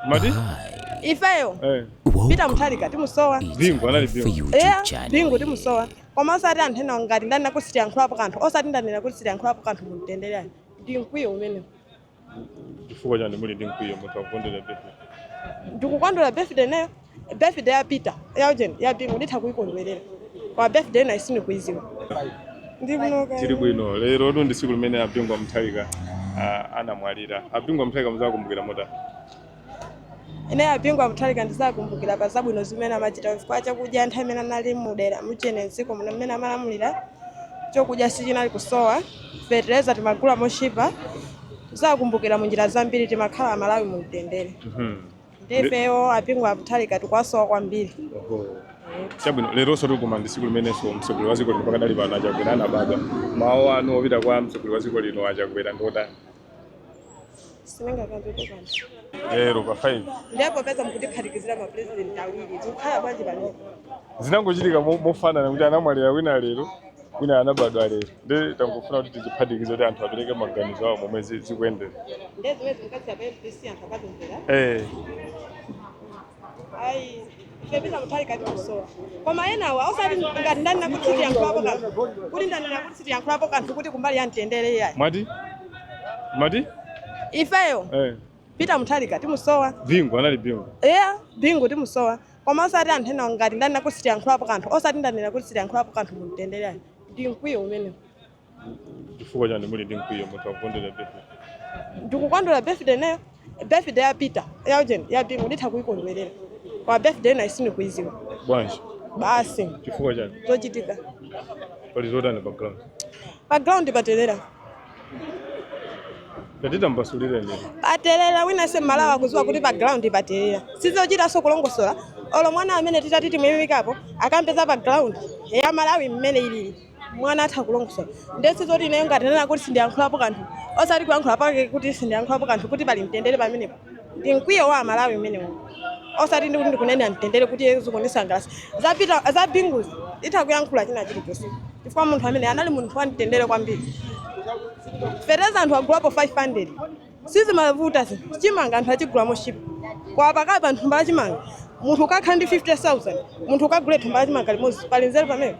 Mwati? ifeyo Eh. Peter Mutharika timusowa Bingu anali bingu. eya bingu timusowa koma osati anthu ena ngati ndanena kuti sindiyankhulapo kanthu osati ndanena kuti sindiyankhulapo kanthu mumtendere ayi ndi mkwiyo umenewo Chifukwa chani muli ndi mkwiyo munthu akukondwera birthday. ndikukondwera birthday ineyo Birthday ya Peter, ya ujeni, ya Bingu nditha kuikondwerera. Koma birthday ina sindikuidziwa. Ndi kuno kwaya. tili bwino lero ndi tsiku limene a Bingu a Mutharika ah, anamwalira a Bingu a Mutharika muzawakumbukira motani Ine a Bingu a Mutharika ndizawakumbukira pa zabwino zimene amachita chifukwa chakudya nthawi imene anali mudera muchene mdziko muno mmene amalamulira chokudya sichinali kusowa fetereza timagula mochipa tizawakumbukira mu njira zambiri timakhala amalawi mu mtendere Mhm. Nde ifeyo a Bingu a Mutharika tikuwasowa kwambiri. Chabwino, leronso lomweli ndi tsiku limenenso mtsogoleri wa dziko lino pakadali pano a Chakwera anabadwa. Mawu anu opita kwa mtsogoleri wa dziko lino a Chakwera ndi otani? Sindingakambe kanthu. Lero pa 5 Ndiye popeza mukutiphatikizira ma president awiri, tikukhala bwanji panopa? zinangochitika mo- mofanana kuti anamwalira wina lero wina anabadwa lero ndi tangofuna kuti tiziphatikize kuti anthu apereke maganizo awo momwe zi- zikuyendera ndiye zimene zimikatsira pa mbc anthu akatumvera Eh, ayi a Peter Mutharika tikuwasowa koma enawa osati ngati ndanena kuti sindiyankhulapo kanthu kuti ndanena kuti sindiyankhulapo kanthu kuti kumbali ya mtendere iyayi mwati mwati ifeyo Eh, Peter Mutharika timusowa bingu anali bingu eya bingu timusowa koma osati anthu enawo ngati ndanena kuti sindiyankhulapo kanthu osati ndanena kuti sindiyankhulapo kanthu mu mtendere ayi ndi mkwiyo umenewo chifukwa chani muli ndi mkwiyo munthu akukondwera birthday ndikukondwera birthday ineyo birthday ya peter ya ujeni ya bingu nditha kuyikondwerera koma birthday ina sindikuyiziwa bwanji basi chifukwa chani zochitika pali zotani pa ground pa ground patelera Tatitambasulirani lero. paterera wina aliyense mmalawi akuziwa kuti pa ground paterera sizochitanso kulongosola olo mwana amene titati timuyimikapo akambe za pa ground ya malawi mmene ilili mwana atha kulongosola nde sizoti ineyo ngati ndanena kuti sindiyankhulapo kanthu osati kuyankhula pake kuti sindiyankhulapo kanthu kuti pali mtendere pamenepo ndi mkwiyo wa amalawi umenewu osati ndikuti ndikunena mtendere kuti iye zikundisangalasa za Peter za Bingu nditha kuyankhula china chilichonse chifukwa munthu ameneyo anali munthu wa mtendere kwambiri fetereza anthu agulapo 500 sizimavuta zi chimanga anthu achigula motchipa koma pakali pano thumba la chimanga munthu ukakhala ndi 50000 munthu ukagule thumba la chimanga limodzi pali nzeru pamene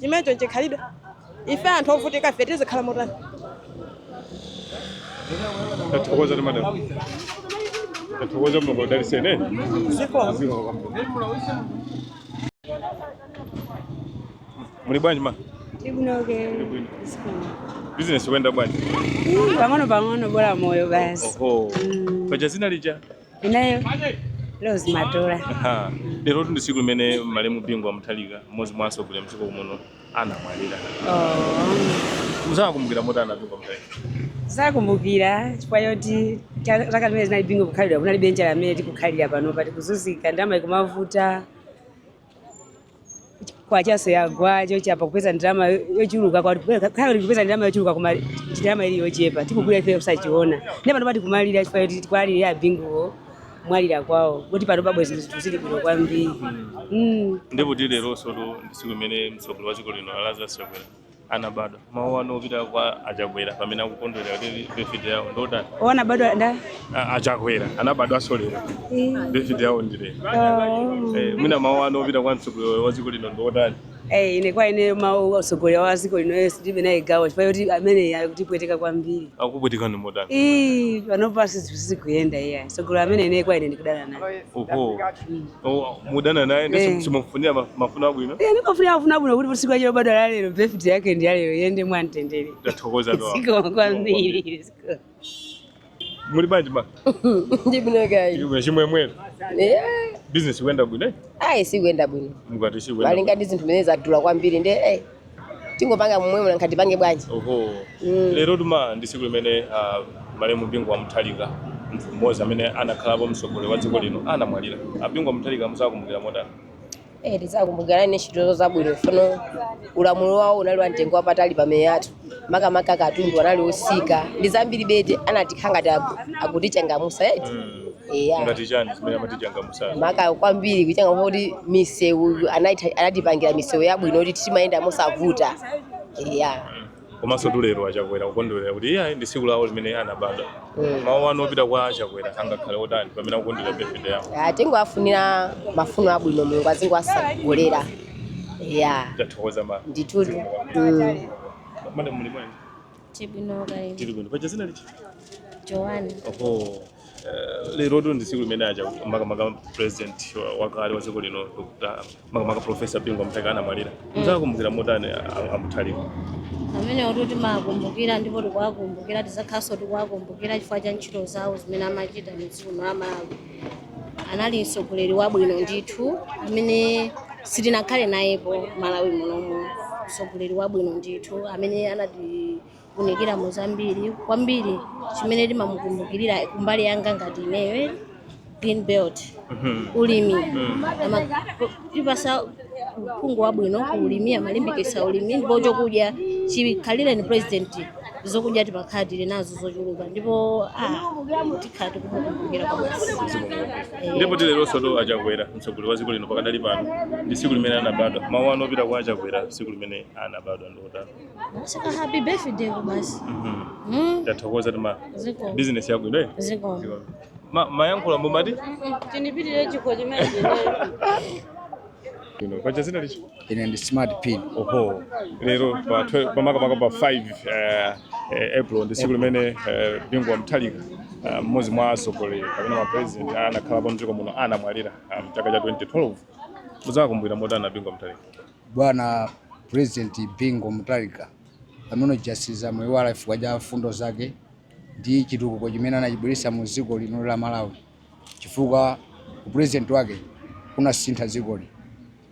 chimenecho nchikhalidwe ife anthu ovutika ife tizikhala motani tathokoza madam tathokoza mulungu adaliseni zikomo muli bwanji ma Tikunoke. bwino business ikuyenda bwanji pang'ono pang'ono bola moyo basi oho paja zina lija Ineyo Leo Zimatola. Aha. Lero ndi tsiku limene malemu Bingu wa Mutharika mmodzi mwa atsogoleri mdziko muno anamwalira. Oh. Muzawakumbukira motani a Bingu wa Mutharika? Zakumbukira chifukwa choti cha- zaka zimene zinali Bingu kukhalidwa kunalibe njala mmene tikukhalira panopa tikuzunzika ndalama ikomavuta kwachaso yagwa chonchotu kupeza ndalama yo- yochuluka kwa- kaya kupeza ndalama yochuluka koma ndalama ili yochepa tikugula ife kusachiona ndi pano pati kumalira chifukwa choti tikuwalira a Binguwo mwalira kwawo kuti pano bwenzi zinthu zinthu zili bwino kwambiri Mm. ndipo ti leronso tu ndi tsiku limene mtsogoleri wa dziko lino a Lazarus Chakwera anabadwa mawu anu opita kwa a Chakwera pamene akukondwerera kuti birthday yawo ndotani ona bado da A- a Chakwera anabadwanso lero Eh, birthday yawo ndi lero oh. Eh, mwina mawu anu opita kwa mtsogoleri wa dziko lino ndotani Eh, ine kwa ine mawu atsogoleri wa dziko lino tilibe naye gawo chifukwa choti ameneyo akutipweteka kwambiri akupwetekani motani Ih, panopa sizikuyenda iyayi mtsogoleri amene ine kwa ine ndikudana naye oho Oh, mukudana naye ndiye Eh. simumufunira ma- mafuno abwino Eh, ndimufunira mafuno abwino kuti tsiku lake lobadwa la lero birthday yake ndi ya lero ayende mwamtendere tathokoza to zikomo kwambiri zikomo. muli bwanji ma ndili bwino kaya Chimwe- chimwemwere business ikuyenda bwino eh? ayi sikuenda bwino mukati sikuyenda malinga ndi zinthu zimene zadula kwambiri nde eh, tingopanga momwemo nanga tipange bwanji oho Mm. lerotu ma ndi tsiku limene ah, malemu Bingu wa Mutharika munthu mmodzi amene anakhalapo mtsogoleri wa dziko lino anamwalira a Bingu wa Mutharika muzawakumbukira motani Eh, tizawakumbukira ndi ntchito zabwino chifukwa ulamulo wawo unali wa mtengo wapatali pamiyoyo yathu makamaka katundu anali otsika ndi zambiri eti anatikhanga ngati aku- akutichangamusa eti Mm. eya ngati chani zimene amatichangamu maka kwambiri kunkhani ya misewu anaita- anatipangira misewu yabwino kuti timayenda mosavuta ya komansotu lero a Chakwera akukondwerera kuti iyi ndi tsiku lawo limene anabadwa mawu anu opita kwa a Chakwera angakhale otani pamene akukondwerera birthday yawo Ya, tingowafunira mafuno abwino mulungu azingowatsogolera ya tathokoza ma ndithu mm. mayi muli bwanji Tili bwino kaya inu. Tili bwino. Paja dzina lija? Joanne. Oho. Eh, lero tu ndi tsiku limene aja makamaka president wa- wakale wa dziko lino Dr. makamaka professor Bingu Mutharika anamwalira. Mudzawakumbukira motani a- a Mutharika? Amenewotu timawakumbukira ndipo tikuwakumbukira tizakhaso tikuwakumbukira chifukwa cha ntchito zawo zimene amachita mu dziko la Malawi. anali mtsogoleri wabwino ndithu amene sitinakhale nayepo Malawi munomu mtsogoleri wabwino ndithu amene anatiunikira mu zambiri kwambiri chimene timamukumbukirira kumbali yanga ngati ineyo Green Belt ulimi Ama- tipasa uphungu wabwino ku ulimi amalimbikitsa ulimi ndipo zokudya chikhalireni president zokudya timakhala tili nazo zochuluka ndipo ah, tikhala tikumukumbukira kwambiri ndipo ti leronso tu a Chakwera mtsogoleri wa dziko lino pakadali pano ndi tsiku limene anabadwa mawu anu opita kwa a Chakwera tsiku limene anabadwa ndi otani happy birthday basi Mhm. mm. tathokoza tima Zikomo. bizinesi yabwino eh? zikomo Zikomo. Ma- mayankhula mumati Chinipitire chikho chimene Ino, paja dzina lija ine ndi smart pin oho lero pa 12 pamakamaka pa 5 eh, eh, april ndi tsiku limene eh, bingu wa Mutharika eh, mmodzi mwa atsogoleri kapena mapresident anakhalapo mdziko muno anamwalira eh, mchaka cha 2012 mudzawakumbukira motani bingu wa Mutharika bwana president bingu Mutharika amene uja sitidzamuiwala chifukwa cha mfundo zake ndi chitukuko chimene anachibweretsa mu dziko lino la Malawi chifukwa upresident wake unasintha dzikoli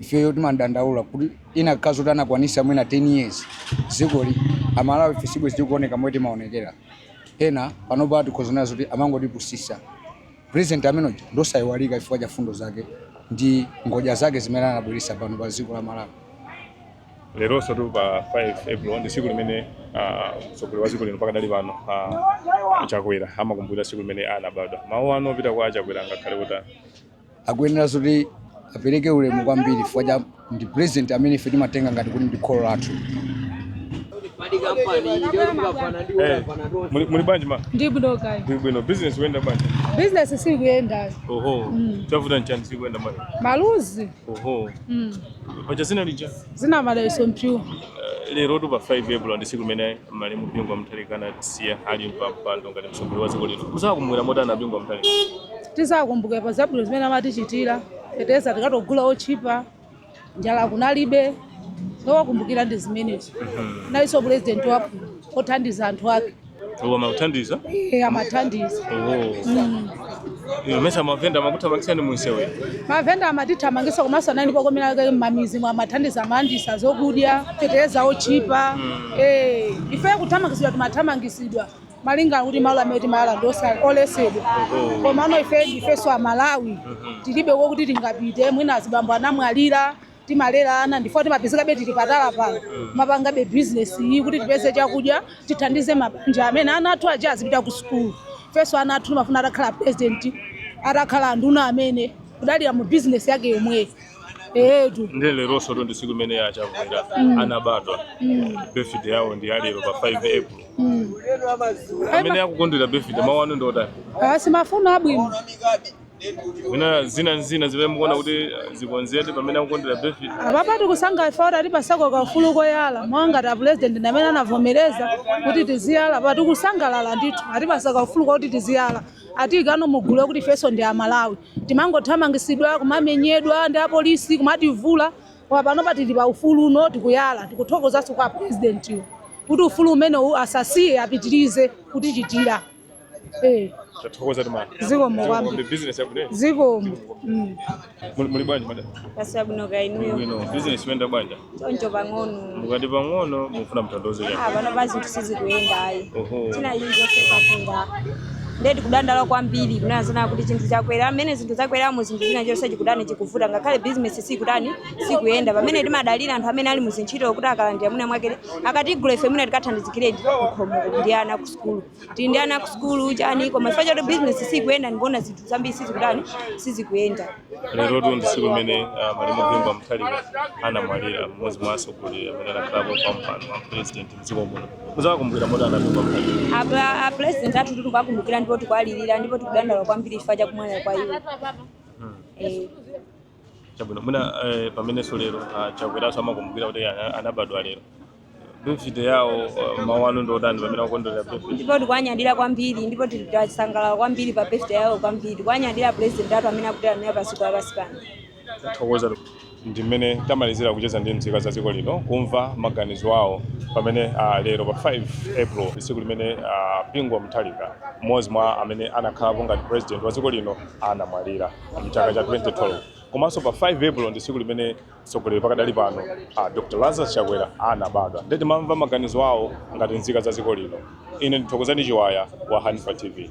ifeyo timadandaula kuti ikanakhala kuti anakwanisa mwina 10 years dzikoli amalawi ife sibwezi tikuoneka momwe timaonekeramu panopa tikuona zoti amangotipusitsa president amenoyo ndosayiwalika chifukwa cha mfundo zake ndi ngodya zake zimene anabweretsa pano pa dziko la malawi leronso tu pa 5 april ndi tsiku limene ah, mtsogoleri wa dziko lino pakadali pano ah, chakwera amakumbukira tsiku limene anabadwa mawu anu opita kwa a Chakwera angakhale kuti akuyenera zoti apereke ulemu kwambiri chifukwa cha ndi president amene ife timatenga ngati kuti ndi kholo lathu Eh, muli muli bwanji mai ndili bwino kaya Bwi- bwino business ikuyenda bwanji bizinesi sikuyenda oho chavuta nchani sikuyenda bwanji maluzi oho Mm. paja dzina lija dzina madalitso mpiwa eh, lero tu pa 5 april ndi tsiku limene malemu bingu wa Mutharika anatisiya ali pa mpando ngati mtsogoleri wa dziko lino muzawakumbukira motani bingu wa Mutharika tizawakumbukira pa zabwino zimene amatichitira feteleza tinkagula otchipa njala kunalibe zowakumbukira ndi zimenezo analinso pulezidenti wabwino othandiza anthu ake Oho amakuthandiza? Eh, amathandiza. Oh. Mm. Ino mesa mavenda amakuthamangisani munsewe. Mavenda amatithamangisa komanso nanga poti kwinaku mmamidzimu amathandiza amalandisa zokudya feteleza otchipa. Mm. Eh, ife kuthamangisidwa timathamangisidwa. malinga kuti malo amene timayala ndi oletsedwa komano ife ndifenso amalawi mm-hmm. tilibe kokuti tingapite mwina azibambo anamwalira timalera ana ndi chifukwa timapezekabe tili pa tala pano kumapangabe bizinesi iyi kuti tipeze chakudya tithandize mabanja amene ana athu aja azipita ku sukulu ifenso ana athu timafuna atakhala president atakhala anduna amene akudalira mu bizinesi yake yomweyo eetu ndi leronso tu ndi tsiku limene a Chakwera anabadwa birthday yawo ndi yalero pa 5 april amene akukondwera birthday mawu anu ndi otani mafuno abwino mwina zina ndi zina zimene mukuona kuti eh, zikonzedwe pamene akukondwerera birthday apapa tikusangalala ife kuti atipatsako kaufulu koyala mwa ngati apulezidenti amene anavomereza kuti tiziyala pa tikusangalala ndithu atipatsa kaufulu kuti tiziyala atiyikano mugulu lakuti ifenso ndi amalawi timangothamangitsidwa kumamenyedwa ndi apolisi kumativula koma pano pa tili pa ufulu uno tikuyala tikuthokozanso kwa apulezidentiwo kuti ufulu umenewu asasiye apitirize kutichitira Eh, Tathokoza tumana. zikomo kwambiri. Ndi business yabwino. Zikomo. Mm. Muli muli bwanji madam? Tili bwino kaya inuyo. Bwino. Business ikuyenda bwanji. Choncho pang'ono. Mukati pang'ono mukufuna mutanthauze chani. Ah, panopa zinthu sizikuyenda iyayi. Oho. Zinthu izi zonse zakwera. Ndiye tikudandaula kwambiri kunena zina kuti chinthu chakwera mmene zinthu zakwera mu zinthu china chilichonse chikutani chikuvuta ngakhale business sikutani sikuyenda pamene timadalira anthu amene ali mu zintchito kuti akalandira mwina mwake akatigula ife mwina tikathandizikiredi pakhomo ndi ana kusukulu tili ndi ana kusukulu chani koma chifukwa choti bizinesi sikuyenda ndikuona zinthu zambiri sizikutani sizikuyenda lerotu ndi tsiku limene ah, malemu Bingu wa Mutharika anamwalira mmodzi mwa atsogoleri amene anakhalapo pa mpando wa president mdziko muno muziwakumbukira motani a Bingu wa Mutharika apapa a president athu tili kuwakumbukira ndipo tikuwalirira ndipo tikudandaula kwambiri chifukwa cha kumwalira kwa iwo Eh, chabwino mwina eh, pamenenso lero ah, chakweranso amakumbukira kuti ana- anabadwa lero birthday yawo eh, mawu anu ndi otani pamene akukondwerera birthday ndipo tikuwanyadira kwambiri ndipo tili- tasangalala kwambiri pa birthday yawo kwambiri tikuwanyadira president athu amene akutilamulira padziko lapansi pano tathokoza ndi mmene tamalizira kucheza ndi nzika za dziko lino kumva maganizo awo pamene ah, lero pa 5 april tsiku limene ah, bingu wa mutharika mmodzi mwa amene anakhalapo ngati president wa dziko lino anamwalira mchaka cha 2012 komanso pa 5 april ndi tsiku limene mtsogoleri pakadali pano a dr lazarus chakwera anabadwa nde timamva maganizo awo ngati nzika za dziko lino ine ndi thokozani chiwaya wa hanifa tv